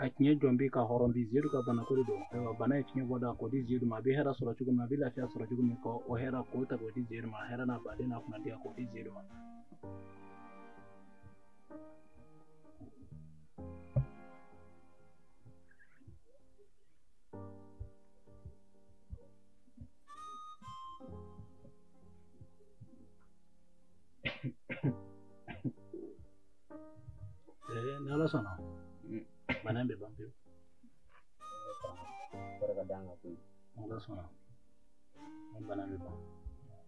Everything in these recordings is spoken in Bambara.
a tiɲɛ jɔn bi ka hɔrɔn bi zidu ka bana ko de don ayiwa bana ye tiɲɛ bɔda k'o di zidu ma a bɛ hɛrɛ sɔrɔ cogo min a bɛ lafiya sɔrɔ cogo min kɔ o hɛrɛ k'o ta k'o di zidu ma hɛrɛ n'a baden n'a kunnadiya k'o di zidu ma Eh, ni ala sɔnna bana in bɛ ban pewu barika da an ka ko in ni ala sɔnna ni bana in bɛ ban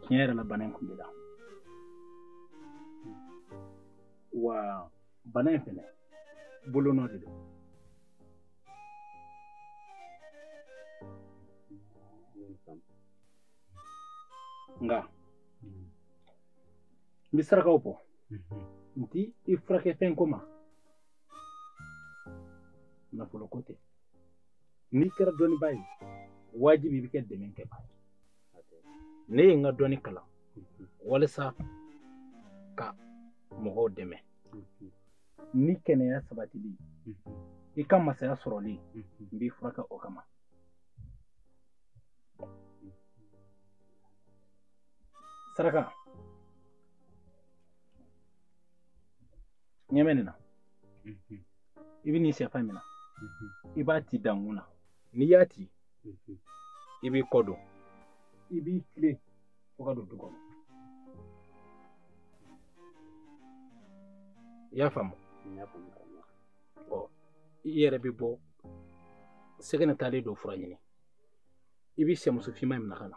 tiɲɛ yɛrɛ la bana in kun bɛ la wa bana in fɛnɛ bolonɔ de don nka n bɛ sarakaw bɔ n t'i furakɛ fɛn ko ma nafolo ko tɛ n'i kɛra dɔnnibaa ye wajibi i bɛ kɛ dɛmɛ kɛbaa ye ne ye n ka dɔnni kalan walasa ka mɔgɔw dɛmɛ ni kɛnɛya sabatili i ka masaya sɔrɔli n b'i furakɛ o kama saraka ɲɛmɛ nin na i bɛ nin sɛfan minɛ i b'a ti dankun na n'i y'a ci mhm. i b'i kɔ don i b'i tilen fo ka don du kɔnɔ i y'a faamu ɔ i yɛrɛ bɛ bɔ sɛgɛn taalen don fura ɲini i bɛ sɛmuso finman in minɛ ka na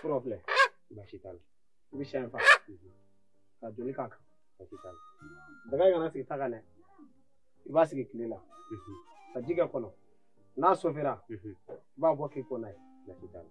fura filɛ baasi t'a la i bɛ sɛ in faga ka joli k'a kan baasi t'a la daga in kana sigi ta kan dɛ i b'a sigi tile la ka ji k'a kɔnɔ n'a sofira i b'a bɔ k'i ko n'a ye baasi t'a la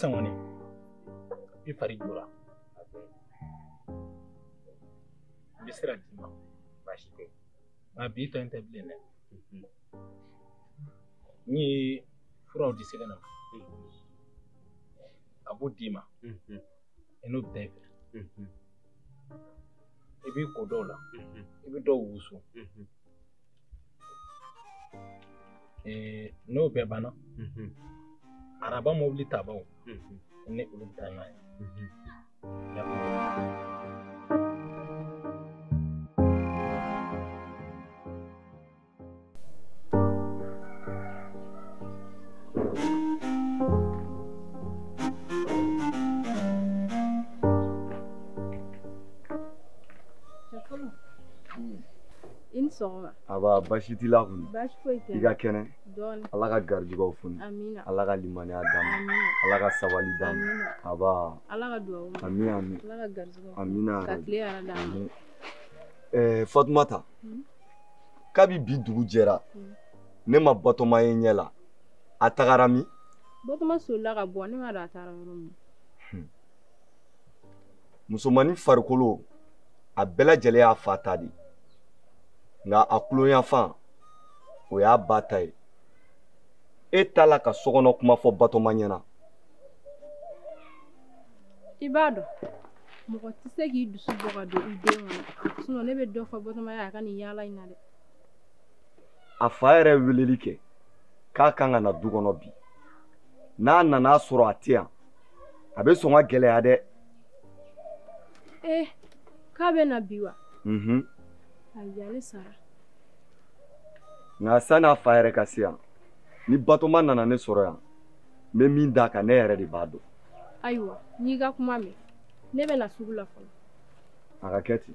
sisan kɔni i fari jɔra n bɛ sira d'i ma baasi tɛ nka bi tɔ in tɛ bilen dɛ n ye furaw di sɛbɛn na a b'o d'i ma i n'o bɛ taa i fɛ i b'i ko dɔw la i bɛ dɔw wusu n'o bɛɛ banna araba mobili tabaw ne olu bɛ taa n'a ye Aba basi t'i la kun i ka kɛnɛ ala ka garijugaw funu ala ka limaniya d'a ma ala ka sabali d'a ma aba ami ami amina fatumata kabi bi dugu jɛra mm. ne ma batoma ye ɲɛ la a tagara min batoma solila ka bɔ ne ma dɔn a taara yɔrɔ min hmm. musomannin farikolo a bɛɛ lajɛlen y'a fa ta de nka a kolonya fan o y'a ba ta ye e t'a la ka sokɔnɔ kuma fɔ batoma ɲɛna i b'a dɔn mɔgɔ tɛ se k'i dusu bɔ ka don i den kɔnɔ ne bɛ dɔ fɔ batoma ye a ka nin yaala in na dɛ a fa yɛrɛ weleli kɛ k'a kan ka na du kɔnɔ bi n'a nana a sɔrɔ a tɛ yan a bɛ sɔn ka gɛlɛya dɛ ee eh, k'a bɛ na bi wa mhm. ayi ale sara nka sanni a fa yɛrɛ ka se yan ni batoma nana ne sɔrɔ yan n bɛ min d'a kan ne yɛrɛ de b'a dɔn ayiwa n y'i ka kuma mɛn ne bɛ na sugu la fɔlɔ a ka kɛ ten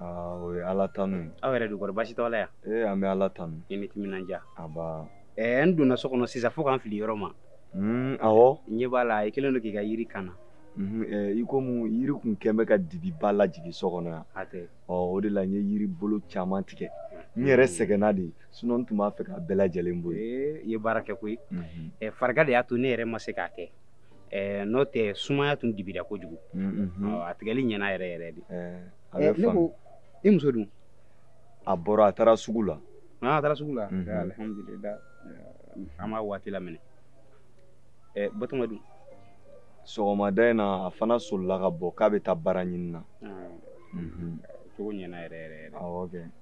aa o ye ala tanu ye aw yɛrɛ dun kɔri basi t'aw la yan ee an bɛ ala tanu i ni timinandiya nba ɛɛ n donna so kɔnɔ sisan fo k'an fili yɔrɔ ma hmm, awɔ n ɲɛ b'a la i kɛlen don k'i ka yiri kan na hmm, eh, i komi yiri tun kɛlen bɛ ka dibiba lajigin so kɔnɔ yan a tɛ ɔ o de la n ye yiri bolo caman tigɛ n yɛrɛ hmm. sɛgɛnna de sinɔn n tun b'a fɛ k'a bɛɛ lajɛlen bɔ yen i ye baara kɛ koyi eh, farigan de y'a to ne yɛrɛ ma se k'a kɛ Eh, n'o tɛ sumaya tun dibira kojugu a tigɛli ɲɛna yɛrɛ yɛrɛ de eh, ne ko i muso dun a bɔra a taara sugu la ah, a taara sugu la mhm. eh, alhamdulillah an b'a waati laminɛ batoma dun sɔgɔmada in na a fana solila ka bɔ k'a bɛ taa baara ɲini na ah. mhm. cogo ɲɛna yɛrɛ yɛrɛ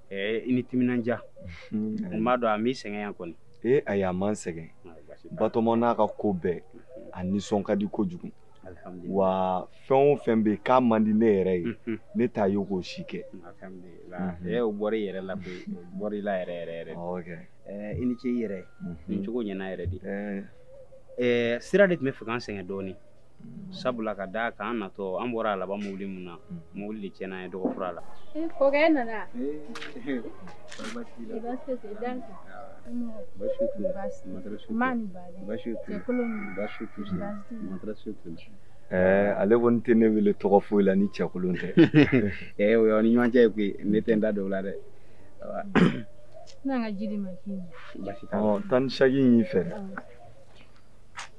yɛrɛ i ni timinandiya n b'a dɔn a m'i sɛgɛn yan kɔni ee ayi a ma n sɛgɛn batoma n'a ka ko bɛɛ a nisɔn ka di kojugu wa fɛn o fɛn bɛ yen k'a man di ne yɛrɛ ye mhm. ne t'a ye k'o si kɛ mhm. e o bɔra i yɛrɛ la koyi o bɔra i la yɛrɛ yɛrɛ yɛrɛ eh, i ni ce i yɛrɛ mhm. nin cogo ɲɛna yɛrɛ de eh. Eh, sira de tun b'a fɛ k'an sɛgɛn dɔɔnin sabula ka da a kan an natɔ an bɔra a laban mobili min na mobili de tiɲɛna yen dɔgɔ fura la kɔkɛ nana Eh, ale kɔni tɛ ne wele tɔgɔ foyi la ni cɛkolon tɛ eh, o y'aw ni ɲɔgɔn cɛ ye koyi ne tɛ n da don o la dɛ n'an ka ji d'i ma k'i ɲɛ ɔ tan ni seegin y'i fɛ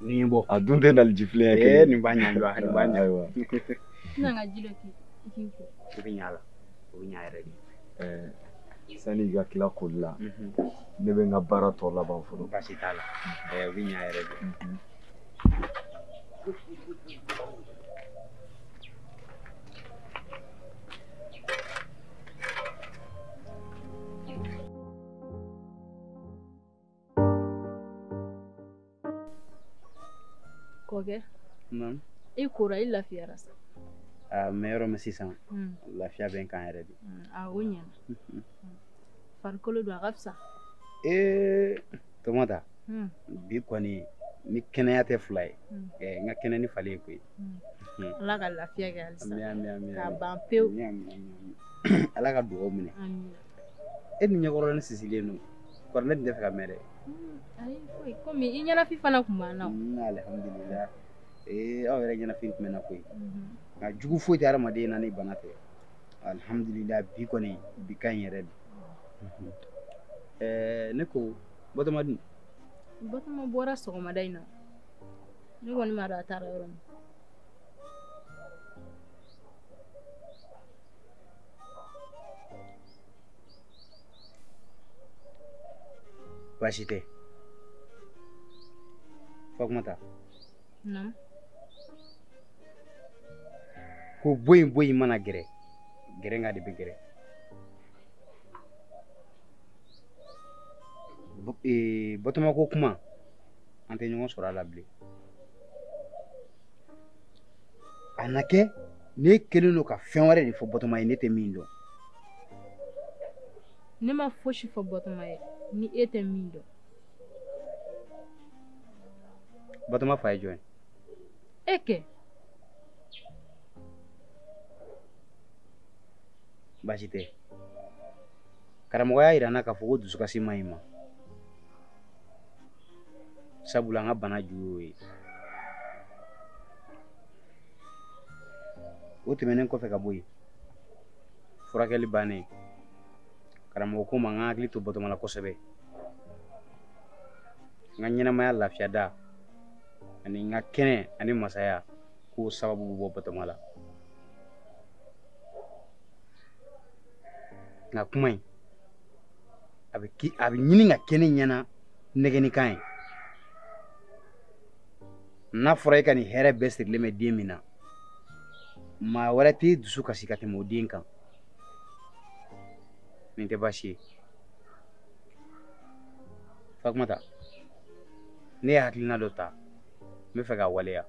Ni bɔ a dun tɛ nali jifi kɛ nin ba ɲɛ b'a ɲɛ bɛ ɲa la o bɛ ɲa yɛrɛ de sani i ka tila koli la ne bɛ n ka baara tɔ laban fɔlɔ basi t'a la o bɛ ɲa yɛrɛ de kɔkɛ i kora i lafiyara sa an bɛ yɔrɔ min sisan hmm. lafiya bɛ n kan yɛrɛ de hmm, a o ɲɛna hmm. farikolo dun a ka fisa ee fatumata bi kɔni ni kɛnɛya tɛ fila ye n ka kɛnɛ ni falen ye koyi ala ka lafiya kɛ halisa k'a ban pewu ala ka dugaw minɛ e ni ɲɛkɔrɔ ni sisilen don kɔrɔ ne tun t'a fɛ ka mɛn dɛ komi i ɲɛnafin fana tun b'an na alihamudulila ee aw yɛrɛ ɲɛnafin tun bɛ n na koyi nka jugu foyi tɛ hadamaden na ni bana tɛ alihamudulila bi kɔni bi ka ɲi yɛrɛ de ɛɛ ne ko batoma dun batoma bɔra sɔgɔmada in na ne kɔni m'a dɔn a taara yɔrɔ min baasi tɛ fatumata Naamu. ko bɔ yen bɔ yen mana gɛrɛ gɛrɛnga de bɛ gɛrɛ Bo- ee, batoma ko kuma an tɛ ɲɔgɔn sɔrɔ a la bilen a na kɛ n'i kɛlen don ka fɛn wɛrɛ de fɔ batoma ye ne tɛ min dɔn ne ma fosi fɔ batoma ye ni e tɛ min dɔn batoma fa ye jɔn ye e kɛ baasi tɛ karamɔgɔ y'a yira n na k'a fɔ ko dusukasi man ɲi n ma sabula an ka bana ju y'o ye o tɛmɛnen kɔfɛ ka bɔ yen furakɛli bannen karamɔgɔ ko n ma n ka hakili to batoma la kosɛbɛ n ka ɲɛnamaya lafiya da ani n ka kɛnɛya ni masaya k'o sababu bɛ bɔ batoma la nka kuma in a bɛ ki a bɛ ɲini ka kɛ ne ɲɛna nɛgɛnni kan ye n'a fɔra e ka nin hɛrɛ bɛɛ sirilen bɛ den min na maa wɛrɛ t'i dusu kasi ka tɛmɛ o den kan nin tɛ baasi ye fatumata ne ye hakilina dɔ ta n b'a fɛ k'a waleya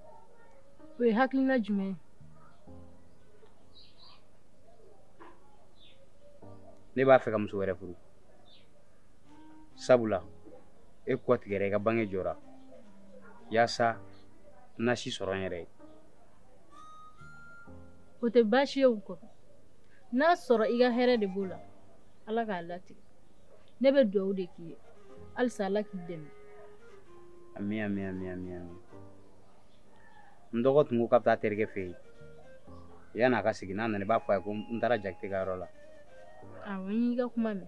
o ye hakilina jumɛn ye ne b'a fɛ ka muso wɛrɛ furu sabula e kɔ tigɛra i ka bange jɔra yaasa n na si sɔrɔ n yɛrɛ ye o tɛ baasi ye o kɔ n'a sɔrɔ i ka hɛrɛ de b'o la ala k'a latigɛ ne bɛ dugawu de k'i ye halisa ala k'i dɛmɛ ami ami ami ami ami n dɔgɔ tun ko k'a bɛ taa a terikɛ fɛ yen yan'a ka segin n'a nana i b'a fɔ a ye ko n taara jakite ka yɔrɔ la awɔ n y'i ka kuma mɛn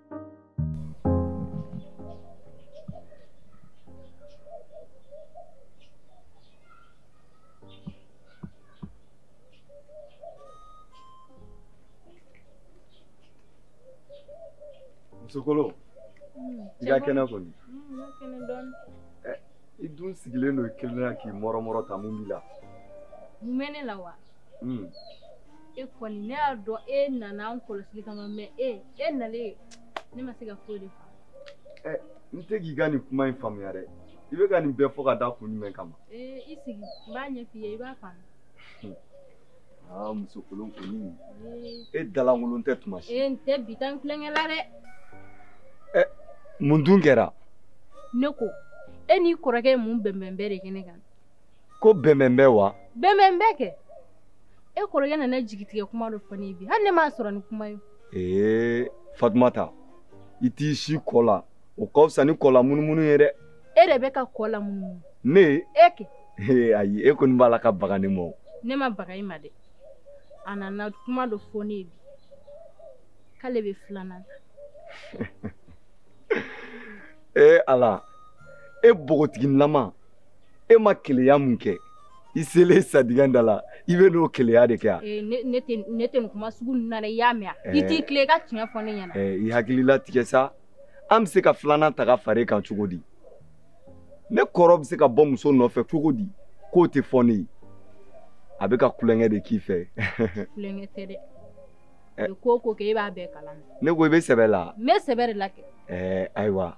musokolo i ka kɛnɛ kɔni i dun sigilen don i kelen na k'i mɔrɔmɔrɔ tan mun b'i la mun bɛ ne la wa mm. e kɔni ne y'a dɔn e nana n kɔlɔsili kama mɛ e e nalen ne ma se ka foyi de faamu eh, n tɛ k'i ka nin kuma in faamuya dɛ i bɛ ka nin bɛɛ fɔ ka da kun jumɛn kama eh, i sigi n b'a ɲɛf'i ye i b'a faamu hmm. aa ah, muso kolon kɔni eh. e da lankolon tɛ tuma si n tɛ bi tan tulonkɛ la dɛ mun dun kɛra ne ko e n'i kɔrɔkɛ ye mun bɛnbɛnbɛn de kɛ ne kan ko bɛnbɛnbɛn wa bɛnbɛnbɛn kɛ e kɔrɔkɛ nana jigitigɛ kuma dɔ fɔ ne ye bi hali ne m'a sɔrɔ ni kuma ye ee fatumata i t'i sin kɔ la o ka fisa ni kɔ lamunumunu ye dɛ e de bɛ ka kɔ lamunumunu ne e kɛ ee ayi e kɔni b'a la ka baga ne ma o ne ma baga i ma dɛ a nana kuma dɔ fɔ ne ye bi k'ale bɛ filanan ta ee ala e npogotiginilama e ma keleya min kɛ i selen sadingɛ da la i bɛ n'o keleya de kɛ a eh, ne tɛ nin kuma sugu ninnu na dɛ i y'a mɛn a eh. i t'i tilen i ka tiɲɛ fɔ ne ɲɛna eh, i hakili latigɛ sa an bɛ se ka filanan ta ka fara e kan cogo di ne kɔrɔ bɛ se ka bɔ muso nɔfɛ cogo di k'o tɛ fɔ ne ye a bɛ ka tulonkɛ de k'i fɛ tulonkɛ tɛ dɛ ko o ko kɛ e b'a bɛɛ kalama ne ko i bɛ sɛbɛ la n bɛ sɛbɛ de la kɛ ayiwa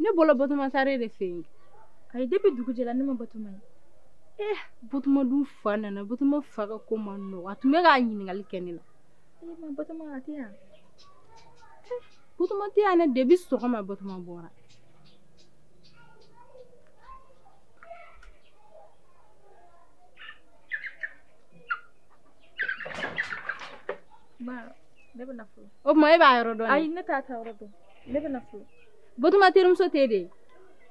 ne bolo batoma taara e de fɛ yen ayi depi dugu jɛra ne ma batoma ye eh batoma dun fa nana batoma fa ka ko man nɔgɔ a tun bɛ k'a ɲininkali kɛ ne la eh ma batoma a tɛ yan eh, batoma tɛ yan ne depi sɔgɔma batoma bɔra o tuma e b'a yɔrɔ dɔn ayi ne t'a taayɔrɔ dɔn ne bɛn'a fɔ batoma terimuso tɛ de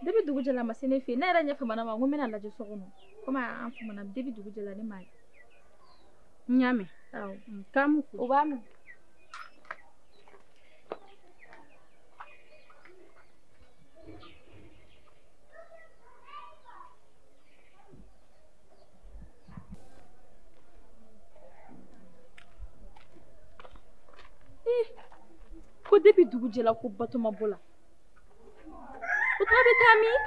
depi dugu jɛla a ma se ne fɛ ne yɛrɛ ɲɛ famana ma ko n bɛn'a lajɛ so kɔnɔ komi an famana depi dugu jɛla ne m'a ye n y'a mɛn k'an b'u fo u b'a mɛn Eh, ko depuis dugu jɛla ko batoma bɔla o tuma a bɛ taa min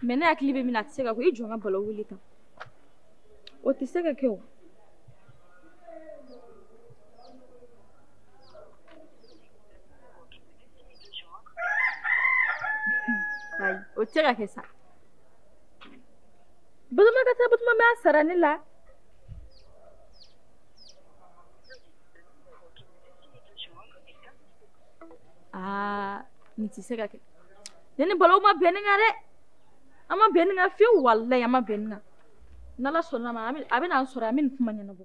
mɛ ne hakili bɛ min na a tɛ se ka kɛ o i jɔ n ka bala wele tan o tɛ se ka kɛ o ayi o tɛ se ka kɛ sa Batoma ka taa batoma b'a sara ne la aa nin tɛ se ka kɛ ne ni bala ma bɛn nin kan dɛ an ma bɛn nin kan fewu walayi an ma bɛn nin kan n'Ala sɔnn'a ma a bɛna an sɔrɔ yan an bɛ nin kuma ɲɛnabɔ